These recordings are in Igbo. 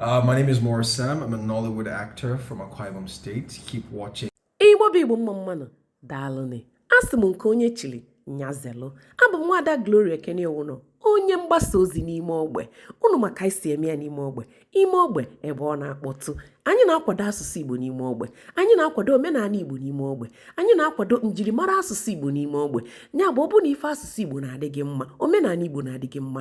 Uh, my name is Morris Sam. I'm a Nollywood actor from Akwa Ibom State. Keep watching. Igbo bụ Igbo mma mmanụ daalụnị asị m nke onye chiri ya zelu abụ m nwaada Gloria Ekene Iwuno onye mgbasa ozi n'ime ogbe unu ma ka anyị si eme ya n'ime ogbe ime ogbe ebe ọ na-akpọtụ anyị na-akwado asụsụ Igbo n'ime ogbe anyị na-akwado omenala Igbo n'ime ogbe anyị na-akwado njirimara asụsụ Igbo n'ime ogbe ya bụ ọ bụ na ife asụsụ Igbo na-adị gị mma omenala Igbo na-adị gị mma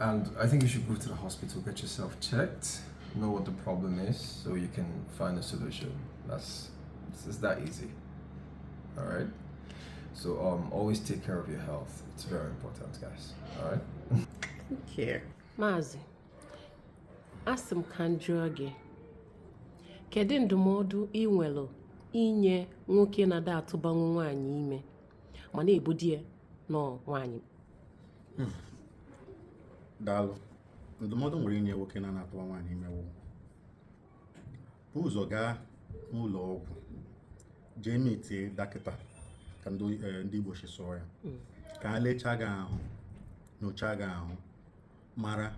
And I think you should go to the hospital, get yourself checked, know what the problem is, so you can find a solution. That's it's, it's that easy. All right. So um, always take care of your health. It's very important, guys. All right. Thank you. Mazi, asị m ka m jụọ gị kedu ndụmọdụ ị nwere inye nwoke na-ada atụbanwu nwaanyị ime ma na-ebu di ya nọ nwaanyị daalụ ndụmọdụ m nwere inye nwoke na-ana atụwa nwaanyị ime wụ bu ụzọ gaa n'ụlọ ọgwụ jee meetie dọkịta ka ndị oyi- eh, ndị igbo si sụọ ya ka ha lechaa gị ahụ nyochaa gị ahụ mara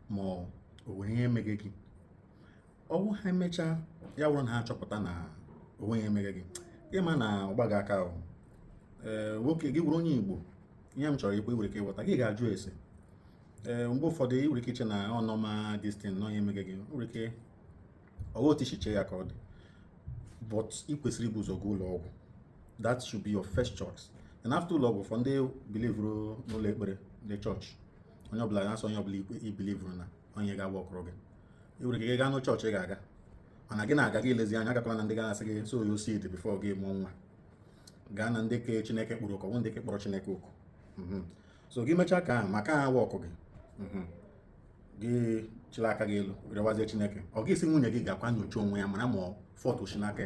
ma o nwere ihe emege gị ọ wụ ha mechaa ya wụrụ na ha achọpụta na o nweghị ihe emege gị ị ma na ọ gbaghị aka ahụ ee nwoke gị bụrụ onye igbo ihe m chọrọ ikwu nwere ike ịghọta gị gaa jụọ ese ee mgbe ụfọdụ ị nwere ike iche na ọ normal destin na ọ ya emege gị nwere ike ọwa otu i si che ya ka ọ dị but ị kwesịrị ibu ụzọ gaa ụlọ ọgwụ that should be your first choice and after ụlọ ọgwụ for ndị bilivuru n'ụlọ ekpere ndị chọọchị onye ọbụla na-asọ onye ọbụla ikpe i bilivuru na onye ga-agba ọkụrụ gị ị nwere ike gaa na chọọchị ị ga-aga mana gị na-aga gị elezi anya agakwala na ndị ga-asị gị sow your seed before gị mụọ nwa gaa na ndị ke chineke kpọrọ oku ọ wụghị ndị ke kpọrọ chineke oku mhm. so gị mechaa ke ahụ ma ọ ka wọkụghị mhm. gị chịrị aka gị elu rịọwazie chineke ọ gị si nwunye gị gaakwa nyochaa onwe ya mara ma fault si n'aka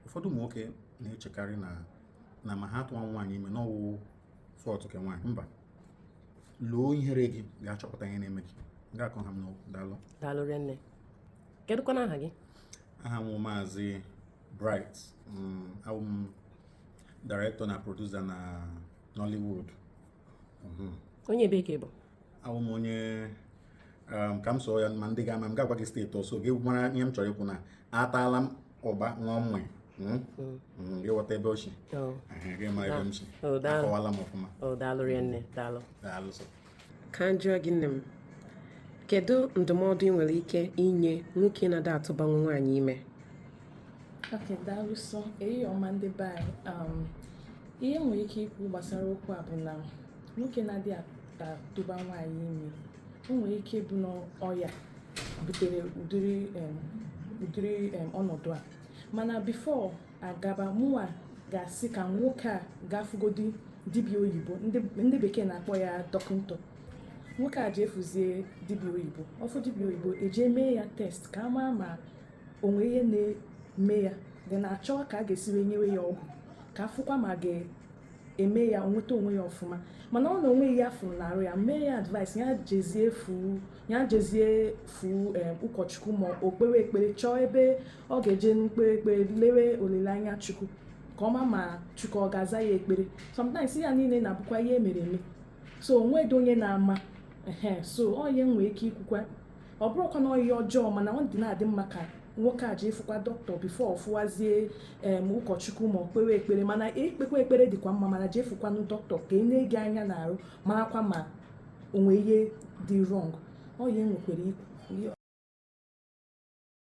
ụfọdụ ụmụ nwoke na-echekarị na na ma ha atụwa nwaanyị ime na ọ wụ fault ke nwaanyị mba loo ihere gị gaa chọpụta ihe na-eme gị ga akọ ha m n'okwu daalụ daalụ rinne kedụkwana aha gị aha m wụ maazị Bright mm, abụ m director na producer na Nollywood mhm. onye ebe ka ị bụ abụ m onye um, ka m sụọ ya ma ndị ga-ama m ga-agwa gị steeti ọsọ gị mara ihe m chọrọ ikwu na ataala m ụgba ṅụọ mmanya Hmm? Hmm. Hmm, ị ghọta ebe o si oh. gị ma ebe m si akọwala m ọfụma oh, daalụ rinne daalụ daalụ ka m jụọ gị nne m kedu ndụmọdụ ị nwere ike inye nwoke na-ada atụbanwu nwaanyị ime okay daalụ sọ enyi ọma ndị be anyị um, ihe m nwere ike ikwu gbasara okwu a bụ na nwoke na-adị atụba nwaanyị ime o nwere ike ịbụ na ọya butere ụdịrị em, ụdịrị em, ọnọdụ a mana before agaba mụwa ga-asị ka nwoke a gaa fụgodi dibịa oyibo ndị bekee na-akpọ ya doctor nwoke a jee fụzie dibịa oyibo ọ fụ dibịa oyibo e jee mee ya test ka a ma ma o nwe ihe na-eme ya dị na a chọọ ka a ga-esi wee nyewe ya ọgwụ ka a fụkwa ma ọ ga-eme ya o nweta onwe ya ọfụma mana ọ na o nwe ihe a fụrụ n'arụ ya m ya-advice ya jezie fụ ya jezie fụ ụkọchukwu ma o kpewe ekpere chọọ ebe ọ ga-eje na-ekpe ekpere lewe olileanya chukwu ka ọ ma ma chukwu ọ ga-aza ya ekpere sometimes ya niile na-abụkwa ihe e mere eme so o nwedo onye na-ama ehe so onye nwee ike ikwukwa ọ bụrụkwa na ọ ihe ọjọọ mana ọ dị na-adị mma ka nwoke a jee fụkwa dọkịta before ọ fụwazie em ụkọchukwu ma o kpewe ekpere mana ikpekwa ekpere dịkwa mma mana jee fụkwanụ dọkịta ka e nee gị anya n'arụ marakwa ma o nwe ihe dị wrong ọ ya enwekwere ikwu